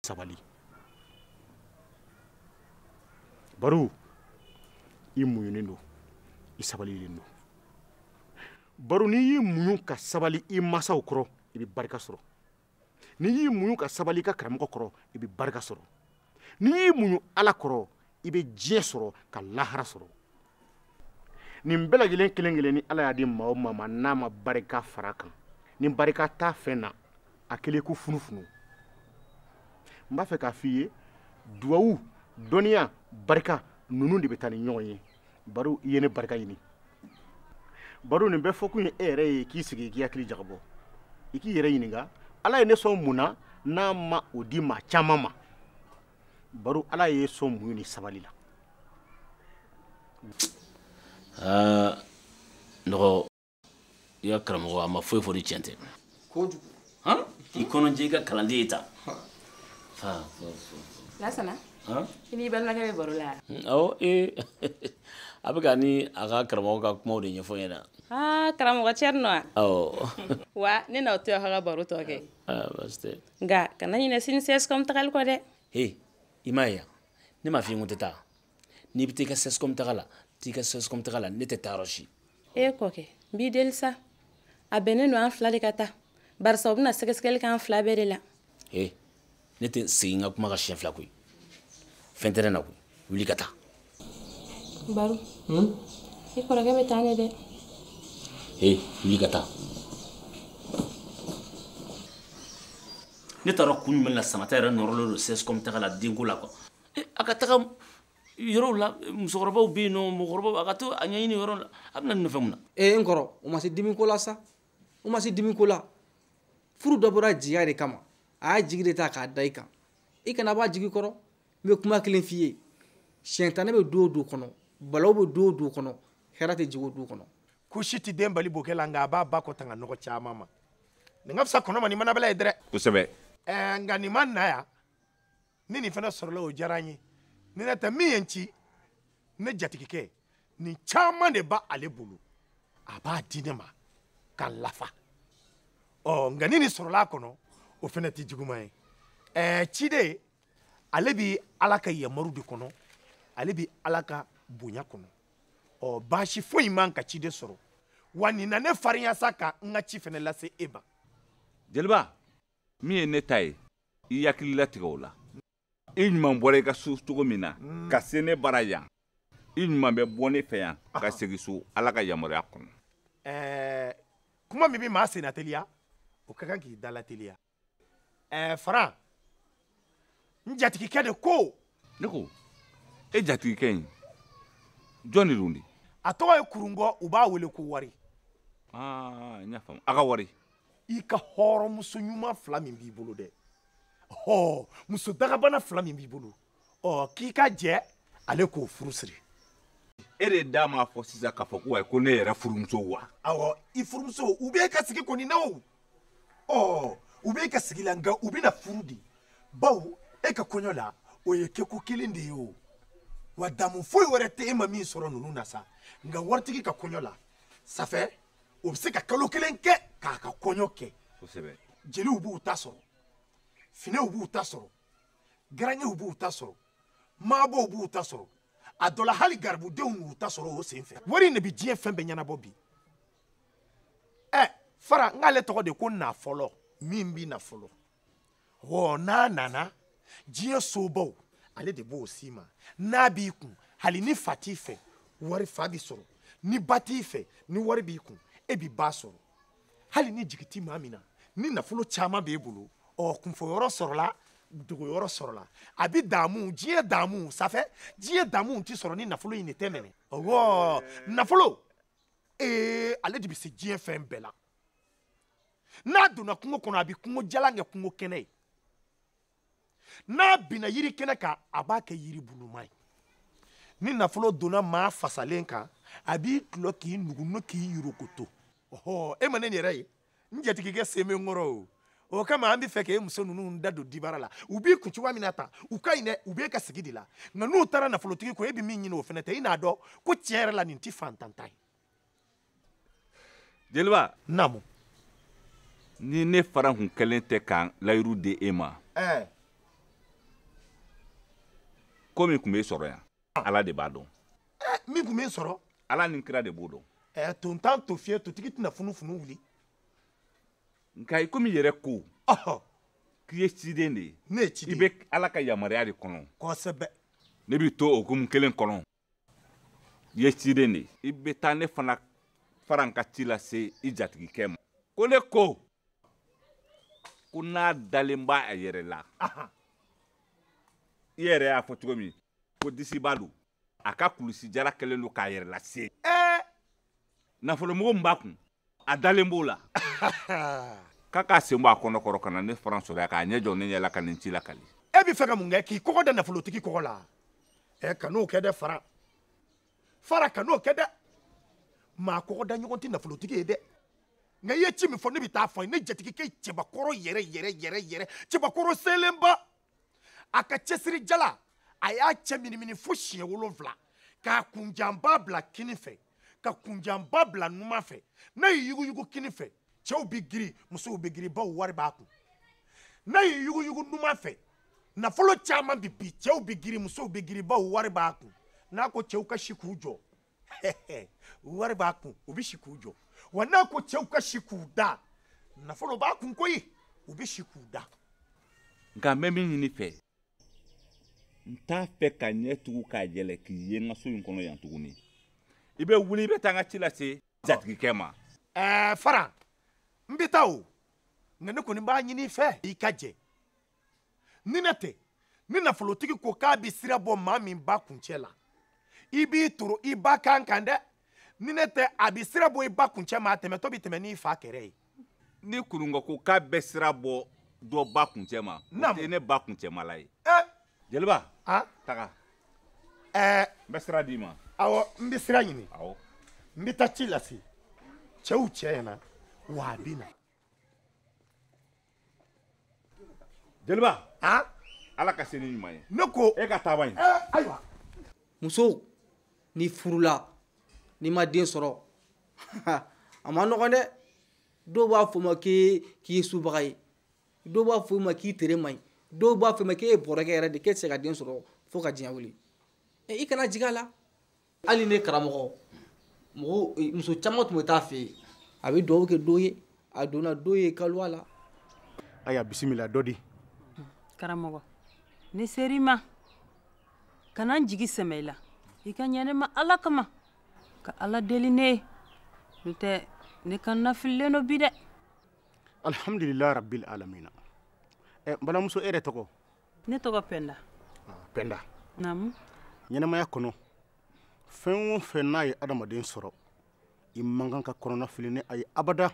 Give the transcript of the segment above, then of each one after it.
sabali baru i muɲunen don i sabalilen don baru n'i y'i muɲu ka sabali i masaw kɔrɔ i bɛ barika sɔrɔ n'i y'i muɲu ka sabali i ka karamɔgɔ kɔrɔ i bɛ barika sɔrɔ n'i y'i muɲu ala kɔrɔ i bɛ diɲɛ sɔrɔ ka lahara sɔrɔ nin bɛɛ lajɛlen kelen kelen ni ala y'a di maa o maa ma n'a ma barika fara kan ni barika t'a fɛn na a kelen ko funufunu n b'a fɛ k'a f'i ye duwawu dɔnniya barika ninnu de bɛ taa ni ɲɔgɔn ye baru i ye ne barika ɲini baru nin bɛɛ fɔkun ye e yɛrɛ ye k'i sigi k'i hakili jagabɔ i k'i yɛrɛ ɲininka ala ye ne sɔn mun na n'a ma o di maa caman ma baru ala y'e sɔn muɲu ni sabali la aa nɔgɔ i ka karamɔgɔ a ma foyi fɔ ni tiɲɛ tɛ kojugu i kɔnɔjɛ i ka kalanden ye ta lasana i n'i balimakɛ bɛ baro la awɔ ee a bɛ ka ni a ka karamɔgɔ ka kumaw de ɲɛfɔ n ɲɛna karamɔgɔ cɛrinɔ wa ne n'aw to aw ka baro tɔ kɛ nka kana ɲinɛ sini sɛsikɔm tagali kɔ dɛ he i m'a ye yan ne m'a f'i ko n tɛ taa n'i bɛ taa i ka sɛsikɔm taga la t'i ka sɛsikɔm taga la ne tɛ taa yɔrɔ si e kɔkɛ n b'i deli sa a bɛnnen don an fila de ka taa barisa u bɛna sɛgɛsɛgɛli kɛ an fila bɛɛ de la he ne tɛ segin n ka kuma kan siɲɛ fila koyi fɛn tɛ ne na koyi wuli ka taa baru hmm? i kɔrɔkɛ bɛ taa ne dɛ ee wuli ka taa ne taara kun jumɛn na samata yɛrɛ nɔrɔlen don sɛsikɔm taga la denko la kuwa eh, a ka taga yɔrɔw la musokɔrɔbaw bɛ yen nɔ mɔgɔkɔrɔbaw a ka taa a ɲɛɲini yɔrɔ la a bɛna ne nɔfɛ mun na ee eh, n kɔrɔ o ma se dimi ko la sa o ma se dimi ko la furu dabɔra jigiya de kama a y'a jigi de ta k'a da i kan i kana b'a jigi kɔrɔ n bɛ kuma kelen f'i ye sitanɛ bɛ du o du kɔnɔ balawu bɛ du o du kɔnɔ hɛrɛ tɛ jigi o du kɔnɔ kusi tɛ den bali bokɛ la nka a b'a ba kɔ tanga nɔgɔ caman ma nin ka fisa kɔnɔ ma ni manabɛlɛ ye dɛrɛ kosɛbɛ ɛɛ nka nin ma na yan ni nin fana sɔrɔla o diyara n ye ni nin tɛ min ye n ci ne jatigikɛ nin caman de b'ale bolo a b'a di ne ma ka n lafa ɔ nka ni nin sɔrɔla a kɔnɔ o fana tɛ juguman ye ɛɛ ciden ale bi ala ka yamaru de kɔnɔ ale bi ala ka bonya kɔnɔ ɔ baasi foyi man ka ciden sɔrɔ wa nin na ne farinya sa ka n ka ci fana lase e ma jeliba min ye ne ta ye i hakili latigɛ o la i ɲuman bɔra i ka so cogo min na mm. ka se ne bara yan i ɲuman bɛ bɔ ne fɛ yan ka segin so ala ka yamaruya kɔnɔ eh, kuma min bɛ maa senna teliya o ka kan k'i dala teliya eh, faran n jatigikɛ de ko ne ko e jatigikɛ in jɔn de don de a tɔgɔ ye kurungɔ u b'a wele ko wari ah, n y'a faamu a ka wari i ka hɔrɔnmuso ɲuman fila min b'i bolo dɛ ɔ muso dagabana fila min b'i bolo ɔ k'i ka jɛn ale k'o furu siri e de da m'a fɔ sisan k'a fɔ ko ayi ko ne yɛrɛ furumusow wa awɔ i furumuso u b'e ka sigi kɔni na o ɔ u b'e ka sigi la nka u bɛna furu de bawo e ka kɔɲɔ la o ye kɛko kelen de ye o wa damu foyi wɛrɛ tɛ e ma min sɔrɔ ninnu na sa nka waritigi ka kɔɲɔ la safɛ o bɛ se ka kalo kelen kɛ k'a ka kɔɲɔ kɛ jeliw b'u ta sɔrɔ finɛw b'u ta sɔrɔ garangew b'u ta sɔrɔ maabɔw b'u ta sɔrɔ a dɔ la hali garibudenw b'u ta sɔrɔ o sen fɛ wari in de bɛ diɲɛ fɛn bɛɛ ɲɛnabɔ bi ɛ faran k'ale tɔgɔ de ko nafɔlɔ min bi na fɔlɔ hɔ n'a nana diɲɛ sobaw ale de b'o s'i ma n'a b'i kun hali ni fa t'i fɛ wari fa bi sɔrɔ ni ba t'i fɛ ni wari b'i kun e bi ba sɔrɔ hali ni jigi ti maa min na ni nafolo caman b'e bolo ɔ kunfɔyɔrɔ sɔrɔla dogoyɔrɔ sɔrɔla a bi daamu diɲɛ daamu safɛ diɲɛ daamu ti sɔrɔ ni nafolo in de tɛ mɛnɛ ɔwɔ nafolo ee ale de bi se diɲɛ fɛn bɛɛ la n'a donna kungo kɔnɔ a bɛ kungo jalan kɛ kungo kɛnɛ ye n'a binna yiri kɛnɛ kan a b'a kɛ yiri buluma ye ni nafolo donna maa fasalen kan a b'i tulɔ k'i nugu k'i yurukoto ɔhɔ e ma ne yɛrɛ ye n jatigikɛ sen bɛ n kɔrɔ o o kama an bɛ fɛ k'e muso ninnu da don dibara la u b'i kun cogoya min na tan u ka ɲi dɛ u b'e ka sigi de la nka n'u taara nafolotigi kɔ e bɛ min ɲini o fana tɛ i n'a dɔn ko tiɲɛ yɛrɛ la nin tɛ fantan ta ye jeliba naamu ni ne faran kun kɛlen tɛ ka layiru di e ma eh. ko min kun bɛ sɔrɔ yan ah. ala de b'a dɔn eh, min kun bɛ sɔrɔ ala ni kira de b'o dɔn eh, tontan to fiye totigi tɛna funufunu wuli nka i komi yɛrɛ ko k'i ye ciden de ye ne ye ciden i bɛ ala ka yamaruya de kɔnɔ kosɛbɛ ne b'i to o hukumu kelen kɔnɔ i ye ciden de ye i bɛ taa ne fana faran ka ci lase i jatigikɛ ma ko ne ko ko n'a dalen b'a a yɛrɛ la i yɛrɛ y'a fɔ cogo min ko disiba don a ka kulusijala kɛlen don k'a yɛrɛ lase nafolomugu min b'a kun a dalen b'o la k'a k'a sen bɔ a kɔnɔ kɔrɔ ka na ne faran sɔrɔ yan k'a ɲɛ jɔ ne ɲɛ la ka nin ci lakali e bɛ fɛ ka mun kɛ k'i kɔgɔ da nafolotigi kɔgɔ la ɛ kan'o kɛ dɛ fara fara kan'o kɛ dɛ maa kɔgɔ da ɲɔgɔn tɛ nafolotigi ye dɛ nka i ye ci min fɔ ne bɛ taa fɔ a ye ne jatigikɛ cɛbakɔrɔ yɛrɛ yɛrɛ yɛrɛ yɛrɛ cɛbakɔrɔ selenba a ka cɛsiri jala a y'a cɛ minimini fo siɲɛ wolonfila k'a kunjanba bila kini fɛ ka kunjanba bila numan fɛ n'a y'i yuguyugu kini fɛ cɛw bɛ girin musow bɛ girin bawo wari b'a kun n'a y'i yuguyugu numan fɛ nafolo caman bɛ bin cɛw bɛ girin musow bɛ girin bawo wari b'a kun n'a ko cɛw ka si k'u jɔ wari b'a kun u bɛ si k'u jɔ wa n'a ko cɛw ka si k'u da nafolo b'a kun koyi u bɛ si k'u da nka n bɛ min ɲini i fɛ n t'a fɛ ka n ɲɛ tugu k'a yɛlɛ k'i ye n ka so in kɔnɔ yan tuguni i bɛ wuli i bɛ taa n ka ci lase jatigikɛ ma ɛɛ fara n bɛ taa o nka ne kɔni b'a ɲini i fɛ i ka jɛ ni ne tɛ ni nafolotigi ko k'a bɛ sira bɔ maa min ba kuncɛ la i b'i toro i ba kan kan dɛ ni ne tɛ a bɛ sira bɔ i ba kuncɛ ma a tɛmɛtɔ bɛ tɛmɛ n'i fa kɛrɛ ye ni kurungɔ ko k'a bɛ sira bɔ dɔ ba kuncɛ ma o tɛ ne ba kuncɛmala ye eh! jeliba taga eh! n bɛ sira d'i ma awɔ n bɛ sira ɲini awɔ n bɛ taa ci lase cɛw cɛ ɲɛna wa a bɛ na jeliba ah? ala ka se ni ɲuman ye ne ko e ka taaba ɲi eh, ayiwa muso n'i furula n'i ma den sɔrɔ a man nɔgɔn dɛ dɔw b'a fɔ ma k'i ye subaga ye dɔw b'a fɔ ma k'i tere man ɲi dɔw b'a fɔ ma k'e ye bɔrɔkɛ yɛrɛ de k'e tɛ se ka den sɔrɔ fo ka diɲɛ wuli eh, i kana jigi a la hali ne karamɔgɔ mɔgɔ eh, muso caman tun bɛ taa a fɛ yen a bɛ dugawu kɛ dɔ ye a donna dɔ ye kaluwa la ayiwa bisimila dɔ di karamɔgɔ ne ser'i ma ka na n jigi sɛmɛ i la i ka ɲɛ ne ma ala kama ka ala deli ne ye n'o tɛ ne kɔnɔnafililen don bi dɛ alhamdulilayi rabil alamina ɛ eh, n balimamuso e yɛrɛ tɔgɔ ne tɔgɔ pɛnda ah, pɛnda naamu ɲɛnamaya kɔnɔ fɛn o fɛn n'a ye adamaden sɔrɔ i man kan ka kɔnɔnafili ni a ye abada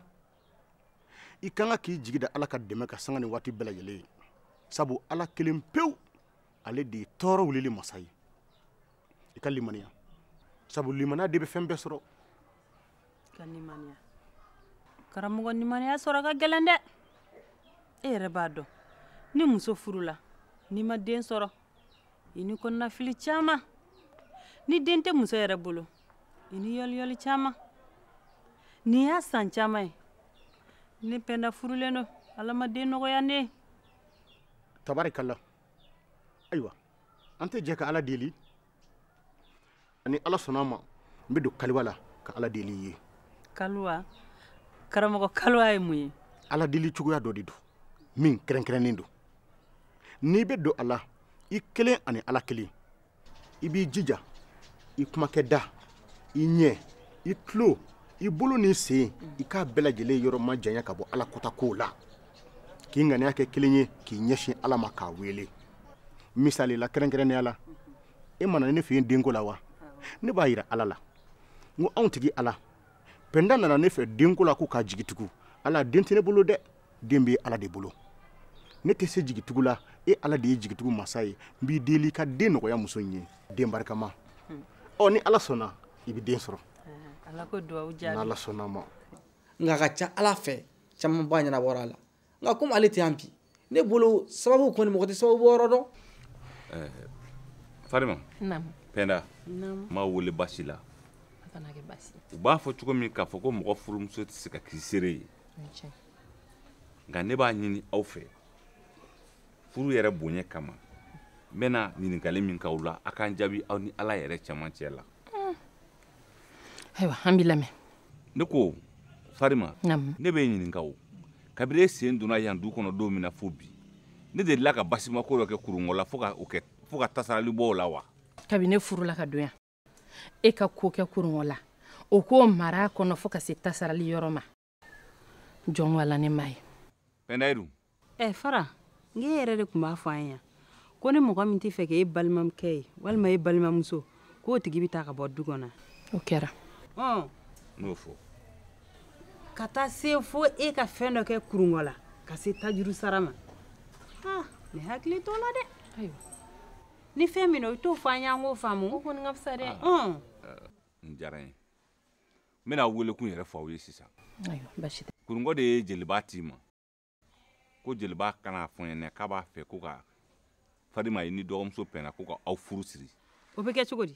i kan ka k'i jigi da ala ka dɛmɛ kan sanga ni waati bɛɛ lajɛlen ye sabu ala kelen pewu ale de ye tɔɔrɔ wulili masa ye i ka limaniya sabu limaniya de bɛ fɛn bɛɛ sɔrɔ ka limaniya karamɔgɔ limaniya sɔrɔ ka gɛlɛn dɛ e yɛrɛ b'a dɔn ni muso furula n'i ma den sɔrɔ i ni kɔnɔnafili caman ni den tɛ muso yɛrɛ bolo i ni yɔliyɔli caman nin y'a san caman ye ne pɛnda furulen don ala ma den nɔgɔya ne ye tabarikala ayiwa an tɛ jɛ ka ala deli a ni ala sɔnna ma n bɛ don kaliwa la ka ala deli i ye kaliwa karamɔgɔ kaliwa ye mun ye ala deli cogoya dɔ de don min kɛrɛnkɛrɛnnen don n'i bɛ don a la i kelen ani ala kelen i b'i jija i kumakɛ da i ɲɛ i tulo i bolo n'i sen i k'a bɛɛ lajɛlen yɔrɔ majanya ka bɔ ala kɔnta kow la k'i ŋaniya kɛ kelen ye k'i ɲɛsin ala ma k'a weele misali la kɛrɛnkɛrɛnnenya la e ma na ne fɛ yen denko la wa ne b'a yira ala la n ko anw tigi ala pɛnda nana ne fɛ denko la ko k'a jigi tugu ala den tɛ ne bolo dɛ den bɛ ala de bolo ne tɛ se jigitugu la e ala de ye jigitugu masa ye n b'i deli ka den nɔgɔya muso in ye den barikama hmm. ɔ ni ala sɔnna i bɛ den sɔrɔ ah, ala k'o dugawu jaabi n'ala sɔnna ma nka a ka ca a la fɛn camanba ɲɛnabɔra a la nka komi ale tɛ yan bi ne bolo sababu kɔni mɔgɔ tɛ sababu bɔyɔrɔ dɔn eh, farima pɛnda n m'aw wele basi la u b'a fɔ cogo min k'a fɔ ko mɔgɔ furumuso tɛ se ka k'i seere ye nka ne b'a ɲini aw fɛ furu yɛrɛ bonya kama n bɛna ɲininkali min k'aw la a ka n jaabi aw ni ala yɛrɛ cɛmancɛ la hmm. ayiwa an b'i lamɛn ne ko farima ne b'e ɲininka o kabiri e sen donna yan du kɔnɔ don min na fo bi ne delila ka basimako dɔ kɛ kurungɔ la fo ka tasarali bɔ o la wa kabini ne furula ka don yan e ka ko kɛ kurungɔ la o k'o mara a kɔnɔ fo ka se tasarali yɔrɔ ma jɔn wala ne m'a ye pɛndayiru ɛ fara n k'e yɛrɛ de tun b'a fɔ an ye yan ko ni mɔgɔ min t'a fɛ k'e balimakɛ ye walima e balimamuso k'o tigi bɛ taa ka bɔ du kɔnɔ o kɛra ɔn non fo ka taa se fo e ka fɛn dɔ kɛ kurungɔ la ka se tajuru sara ma ah ne hakili t'o la dɛ ayiwa ni fɛn min don i t'o fɔ an y'an k'o faamu o kɔni ka fisa dɛ nin diyara n ye n bɛna aw welekun yɛrɛ fɔ aw ye sisan kurungɔ de ye jeliba ci n ma ko jeliba ka n'a fɔ n ɲɛna k'a b'a fɛ ko ka farima e n'i dɔgɔmuso pɛnda ko ka aw furu siri o bɛ kɛ cogo di